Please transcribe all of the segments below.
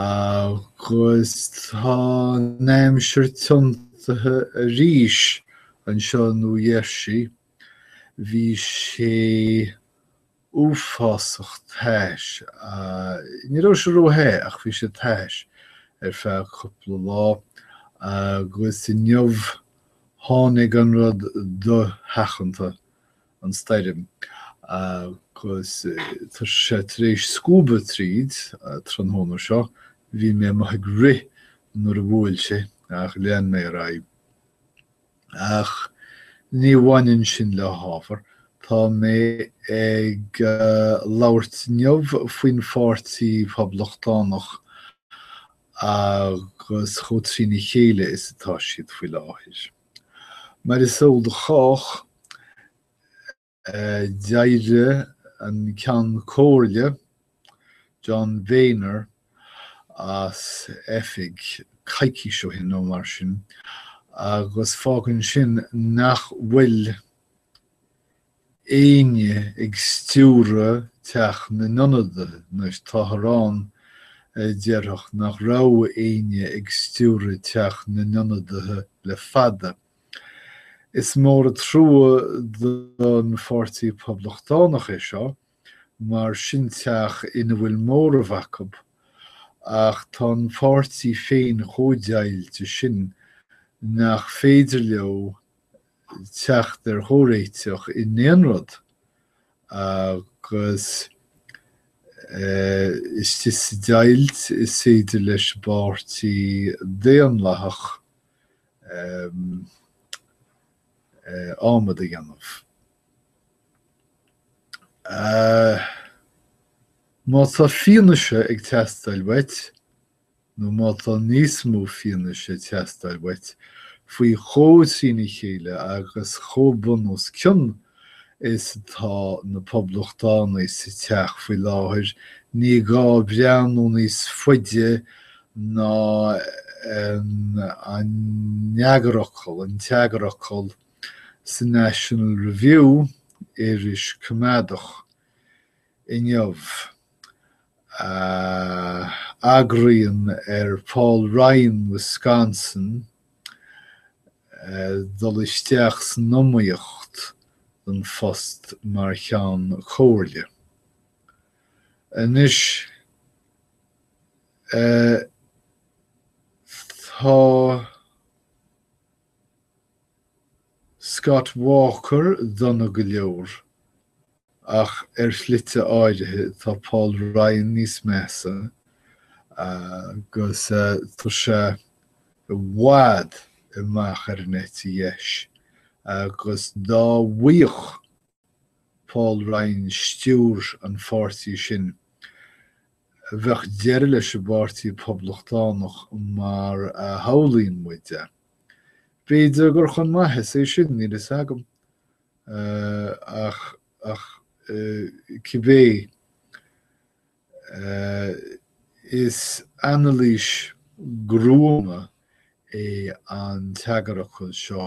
Agus tá an aimsir tiontaithe arís anseo i New Jersey. Bhí sé uafásach tais, ní raibh sé róthe ach bhí sé tais ar feadh cúpla lá agus inniu tháinig an rud dosheachanta an stoirm agus tá sé tar éis scuabadh tríd. Tráthnóna seo bhí mé amuigh ag rith nuair a bhuail sé ach lean mé ar aghaidh. Ach ní bhaineann sin le hábhar, tá mé ag labhairt inniu faoin pháirtí Phoblachtánach agus chomh trína chéile is atá siad faoi láthair. Mar is eol do chách, d'éirigh an Ceann Comhairle, John Boehner, as oifig coicís ó shin nó mar sin, agus fágann sin nach bhfuil, éinne ag stiúradh Teach na nIonadaithe, anois táthar ann a déarfadh nach raibh éinne ag stiúradh Teach na nIonadaithe le fada. Is mór an trua don Pháirtí Poblachtánach é seo, mar sin teach ina bhfuil móramh acu, ach tá an páirtí féin chomh deighilte sin nach féidir leo teacht ar chomhréiteach i n-aon rud agus istigh sa deighilt is féidir leis an bPáirtí Daonlathach ádhmad a dhéanamh. Má tá fianaise ag teastáil uait, nó má tá níos mó fianaise ag teastáil uait faoi chomh trína chéile agus chomh bun os cionn is atá na Poblachtánaigh sa teach faoi láthair, ní gá breathnú níos faide ná an eagarfhocal, an t-eagarfhocal, sa National Review, iris coimeádach. inniu, a agraíonn ar Paul Ryan, Wisconsin, dul isteach san iomaíocht don phost mar Cheann Comhairle. Anois, tá. Scott Walker dona go leor, ach ar shlite áirithe tá Paul Ryan níos measa agus tá sé i bhfad amach ar an eite dheis agus dá bhfaigheadh Paul Ryan stiúir an pháirtí sin, bheadh deireadh leis an bPáirtí Poblachtánach mar a shamhlaíonn muid é. B'fhéidir gur chun maitheas é sin, níl a fhios agam. Ach cibé. Is anailís ghruama é an t-eagarfhocal seo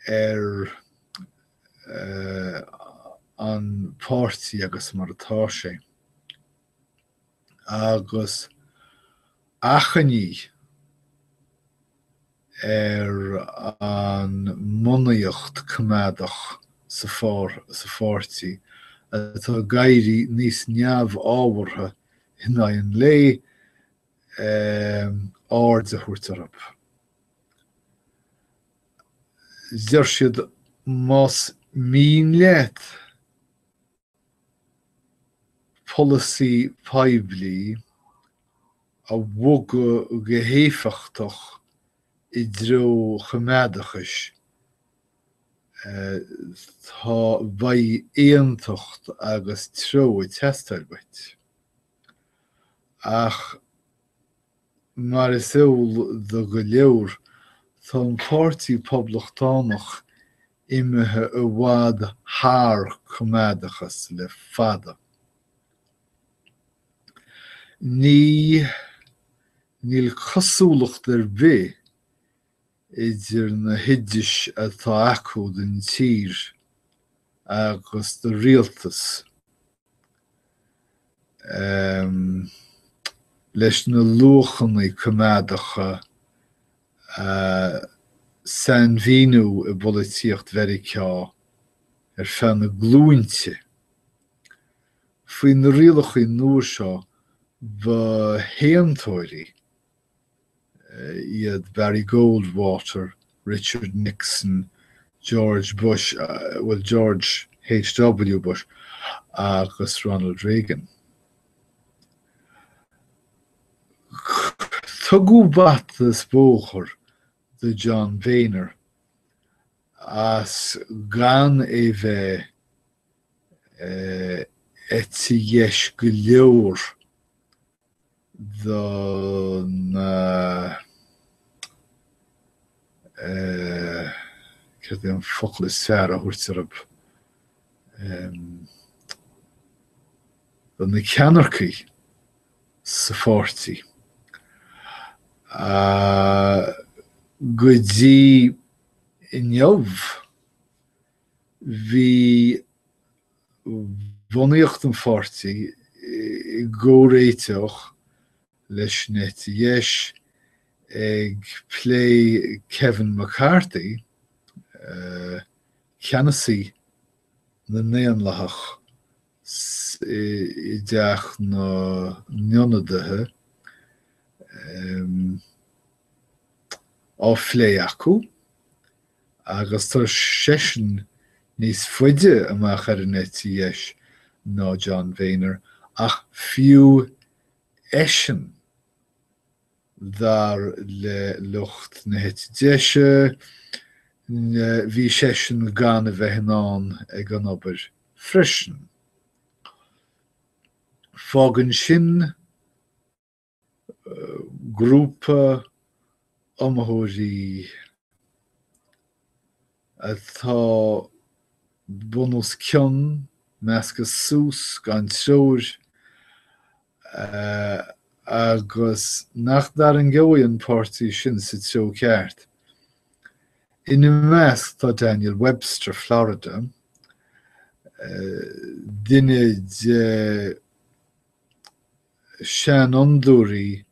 ar an pháirtí agus mar atá sé, agus achainí ar an mbunaíocht choimeádach sa pháirtí atá ag éirí níos neamhábhartha in aghaidh an lae, aird a thabhairt orab. Deir siad más mian leat polasaí poiblí a bhogadh go héifeachtach i dtreo an choimeádachais, tá beidh aontacht agus treo ag teastáil bhuait. Ach. Mar is eol do go leor, tá an Páirtí Poblachtánach imithe i bhfad thar coimeádachas le fada. Ní níl cosúlacht ar bith idir na hoideas atá acu don tír agus do rialtas na. leis na luachannaí coimeádacha a sainmhíníodh i bpolaitíocht Mheiriceá ar feadh na nglúinte. Faoi na rialachaí nua seo, ba shéantóirí. iad Barry Goldwater, Richard Nixon, George Bush, bhuel, George HW Bush, agus Ronald Reagan. Tugadh bata is bóthar do John Boehner as gan é bheith eite dheis go leor do na eh céard é an focal is fearr a thabhairt ar an em do na ceannaircigh sa pháirtí ah go dtí inniu bhí bhunaíocht an pháirtí i gcomhréiteach leis an eite dheis ag plé Kevin McCarthy, ceannasaí na nDaonlathach i dTeach na nIonadaithe, á phlé acu. agus tá seisean níos faide amach ar an eite dheis ná John Boehner, ach fiú eisean, dar le lucht na heite deise, bhí seisean gan a bheith in ann ag an obair freisin. Fágann sin grúpa iomaitheoirí atá bun os cionn, measctha suas, gan treoir, agus nach dtarraingeoidh an páirtí sin sa treo ceart. Ina measc tá Daniel Webster, Florida, duine de seanfhondúirí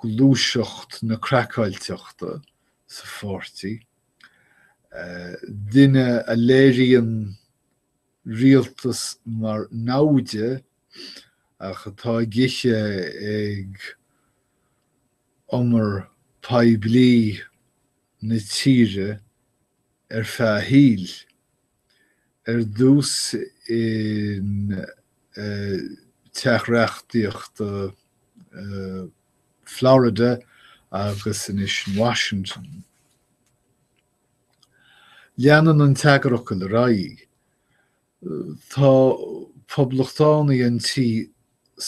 gluaiseacht na craiceáilteachta sa pháirtí, duine a léiríonn rialtas mar namhaid eh ach atá ag ithe ag umar poiblí na tíre ar feadh a shaoil, Ar dtús in Teach Reachtaíochta Florida agus anois in Washington, leanann an t-eagarfhocal ar aghaidh. Tá poblachtánaigh an tí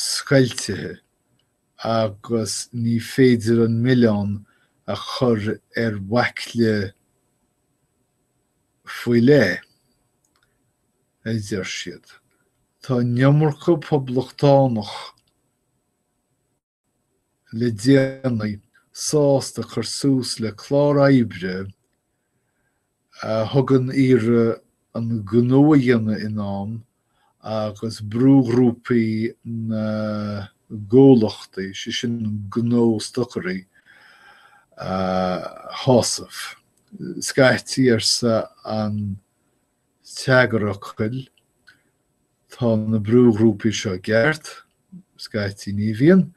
scoiltithe agus ní féidir an milleán a chur ar bhaicle faoi leith, a deir siad. Tá an iomarca Poblachtánach le déanaí sásta cur suas le clár oibre a thugann iarraidh an gnó a dhéanamh in am agus brúghrúpaí na gcomhlachtaí, sé sin gnóstocairí, a shásamh. Scaití, arsa an t-eagarfhocal, tá na brúghrúpaí seo i gceart, scaití ní bhíonn,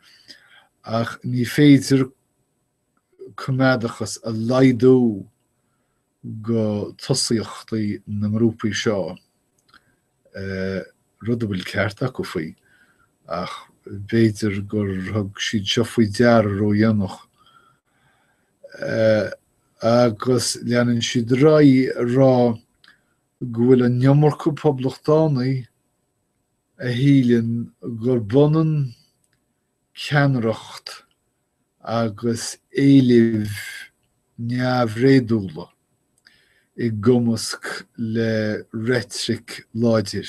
ach ní féidir coimeádachas a laghdú go tosaíochtaí na ngrúpaí seo, rud a bhfuil ceart acu faoi, ach b'fhéidir gur thug siad seo faoi deara ródhéanach. Agus leanann siad ar aghaidh ag rá go bhfuil an iomarca Poblachtánaigh a shíleann gurb ionann ceannaireacht agus éilimh neamhréadúla i gcumasc le reitric láidir.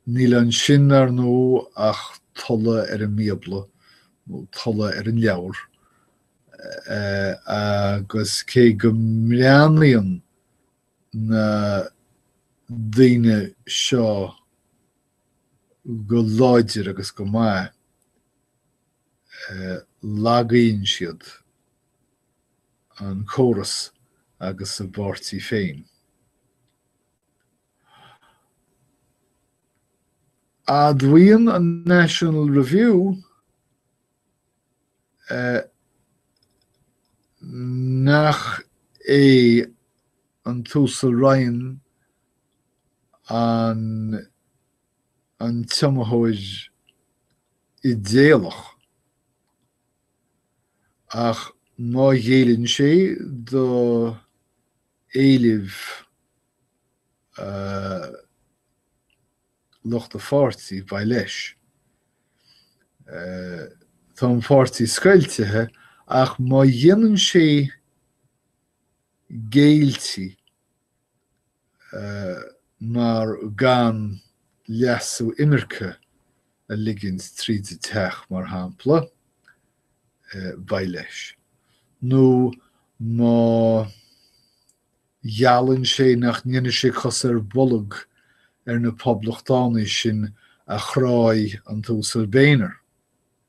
Níl ansin, ar ndóigh, ach tuilleadh ar an mBíobla, nó tuilleadh ar an leabhar, agus cé go mbreathnaíonn na daoine seo go láidir agus go maith, lagaíonn siad an córas agus a bpáirtí féin. Admhaíonn an National Review nach é an tUasal Ryan an an t-iomaitheoir idéalach, ach má ghéilleann sé do éilimh lucht a pháirtí, beidh leis. Tá an pháirtí scoiltithe, ach má dhéanann sé géiltí, mar gan leasú imirce a ligint tríd an Teach, mar shampla, beidh leis. Nó má gheallann sé nach ndéanfaidh sé cos ar bolg ar na Poblachtánaigh sin a chráigh an tUasal Boehner,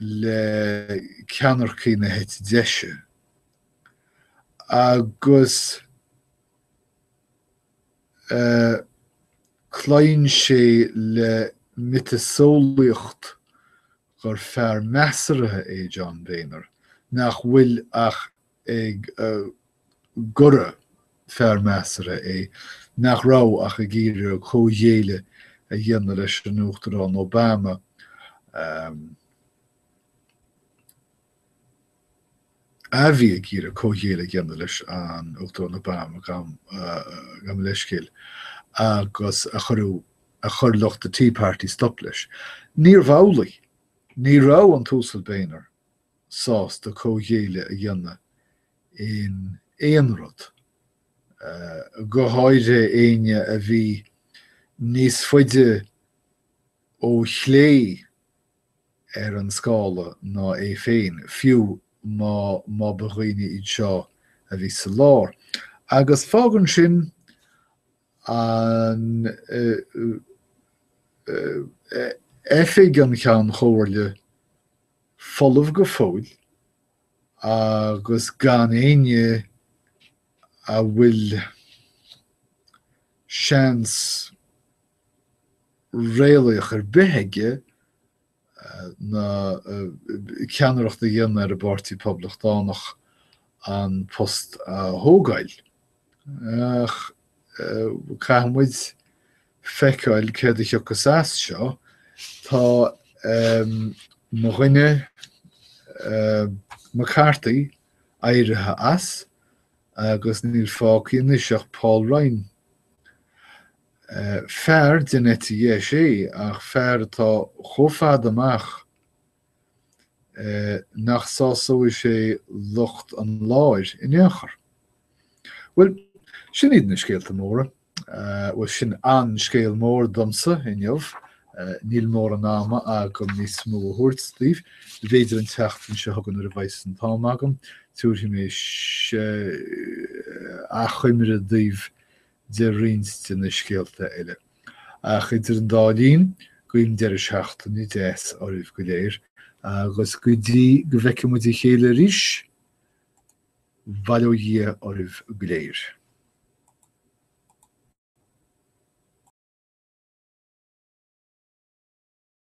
le ceannaircí na heite deise agus cloíonn sé le miotaseolaíocht gur fear measartha é John Boehner nach bhfuil ach gurbh fhear measartha é nach raibh ach ag iarraidh comhghéilleadh a dhéanamh leis an Uachtarán Obama, a bhí ag iarraidh comhghéilleadh a dhéanamh leis an Uachtarán Obama, gabhaim mo leithscéal, agus a chuireadh, a chuir lucht an Tea Party stop leis. Níorbh amhlaidh. Ní raibh an tUasal Boehner sásta comhghéilleadh a dhéanamh in aon rud, go háirithe éinne a bhí níos faide ó chlé ar an scála ná é féin, fiú má, má ba dhaoine iad seo a bhí sa lár. Agus fágann sin Oifig an Cheann Chomhairle folamh go fóill agus gan éinne a bhfuil seans réalaíoch ar bith aige, ná ceannaireacht a dhéanamh ar an bPáirtí Poblachtánach an post a thógáil. Ach caithfidh muid feiceáil céard a thiocfas as seo. Tá mo dhuine McCarthy éirithe as agus níl fágtha anois ach Paul Ryan. Fear den eite dheis é, ach fear atá chomh fada amach nach sásóidh sé lucht an láir in aon chor. Bhuel, sin iad na scéalta móra. Bhuel, sin an scéal mór domsa inniu. Níl mórán ama agam níos mó a thabhairt daoibh. B'fhéidir an tseachtain seo chugainn nuair a bheas an t-am agam, tabharfaidh mé achoimre daoibh de roinnt de na scéalta eile. Ach idir an dá linn, guím deireadh seachtaine deas oraibh go léir, agus go dtí go bhfeicfidh muid a chéile arís, bail ó Dhia oraibh go léir.